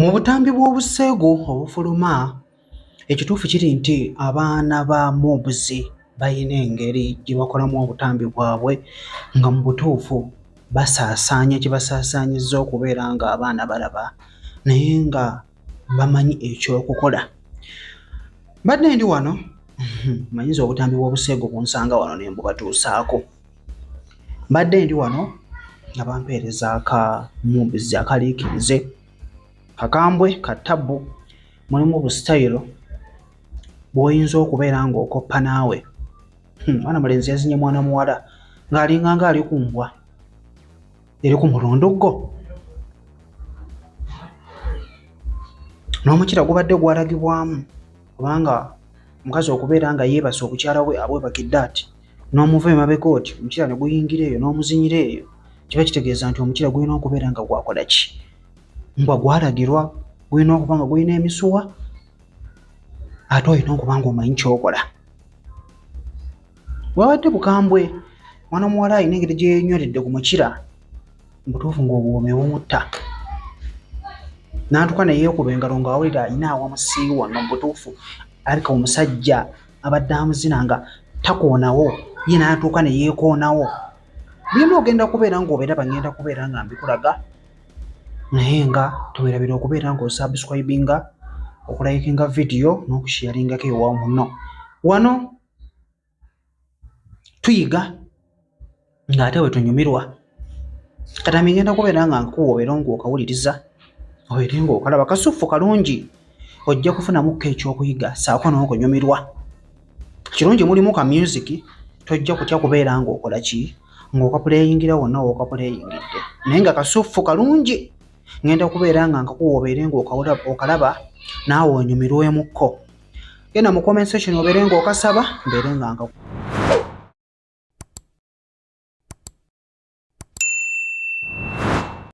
Mu butambi bw'obuseegu obufuluma, ekituufu kiri nti abaana ba Mubzi balina engeri gye bakolamu obutambi bwabwe nga mu butuufu basaasaanya kye basaasaanyizza okubeera ng'abaana balaba naye nga bamanyi ekyokukola mbadde ndi wano mhm, manyinza obutambi bw'obuseegu bunsanga wano ne mbubatuusaako mbadde ndi wano nga bampeereza aka mumbizi akaliikirize kakambwe ka tabbu mulimu busitayiro bw'oyinza okubeera ng'okoppa naawe hmm, mwana mulenzi yazinye mwana muwala ng'alinganga ali ku mbwa eri ku mulundu gwo n'omukira gubadde gwalagibwamu kubanga omukazi okubeera nga yeebase obukyala bwe abwebakidde ati n'omuva emabega oti omukira ne guyingira eyo n'omuzinyira eyo kiba kitegeeza nti omukira gulina okubeera nga gwakola ki mbwa gwalagirwa gulina okuba nga gulina emisuwa ate olina okuba nga omanyi kyokola Bwabadde bukambwe, mwana omuwala alina engeri gye yenyweredde ku mukira mu butuufu ng'obuwoomi bumutta n'atuuka ne yeekuba engalo ng'awulira alina awa musiiwa wano mu butuufu alabika omusajja abadde amuzina nga takoonawo ye n'atuuka ne yeekoonawo byonna ogenda kubeera ng'obiraba ngenda kubeera nga mbikulaga naye nga tewerabira okubeera ng'osubscribinga okulayikinga vidiyo n'okushiyaringako ewa muno wano tuyiga ng'ate bwe tunyumirwa kata migenda kubeera nga nkuwa obeera ngaokawuliriza obeere ngaokalaba kasuffu kalungi ojja kufunamukko ekyokuyiga saako n'okunyumirwa kirungi mulimu ka music tojja kutya kubeera ngaokola ki ng'okapuleyingira wonna wookapuleyingidde naye nga kasuffu kalungi ngenda kubeera nga nkakuwa obeere ngaokalaba naawe onyumirwemukko genda mu comment section obeere nga okasaba mbeere nga nga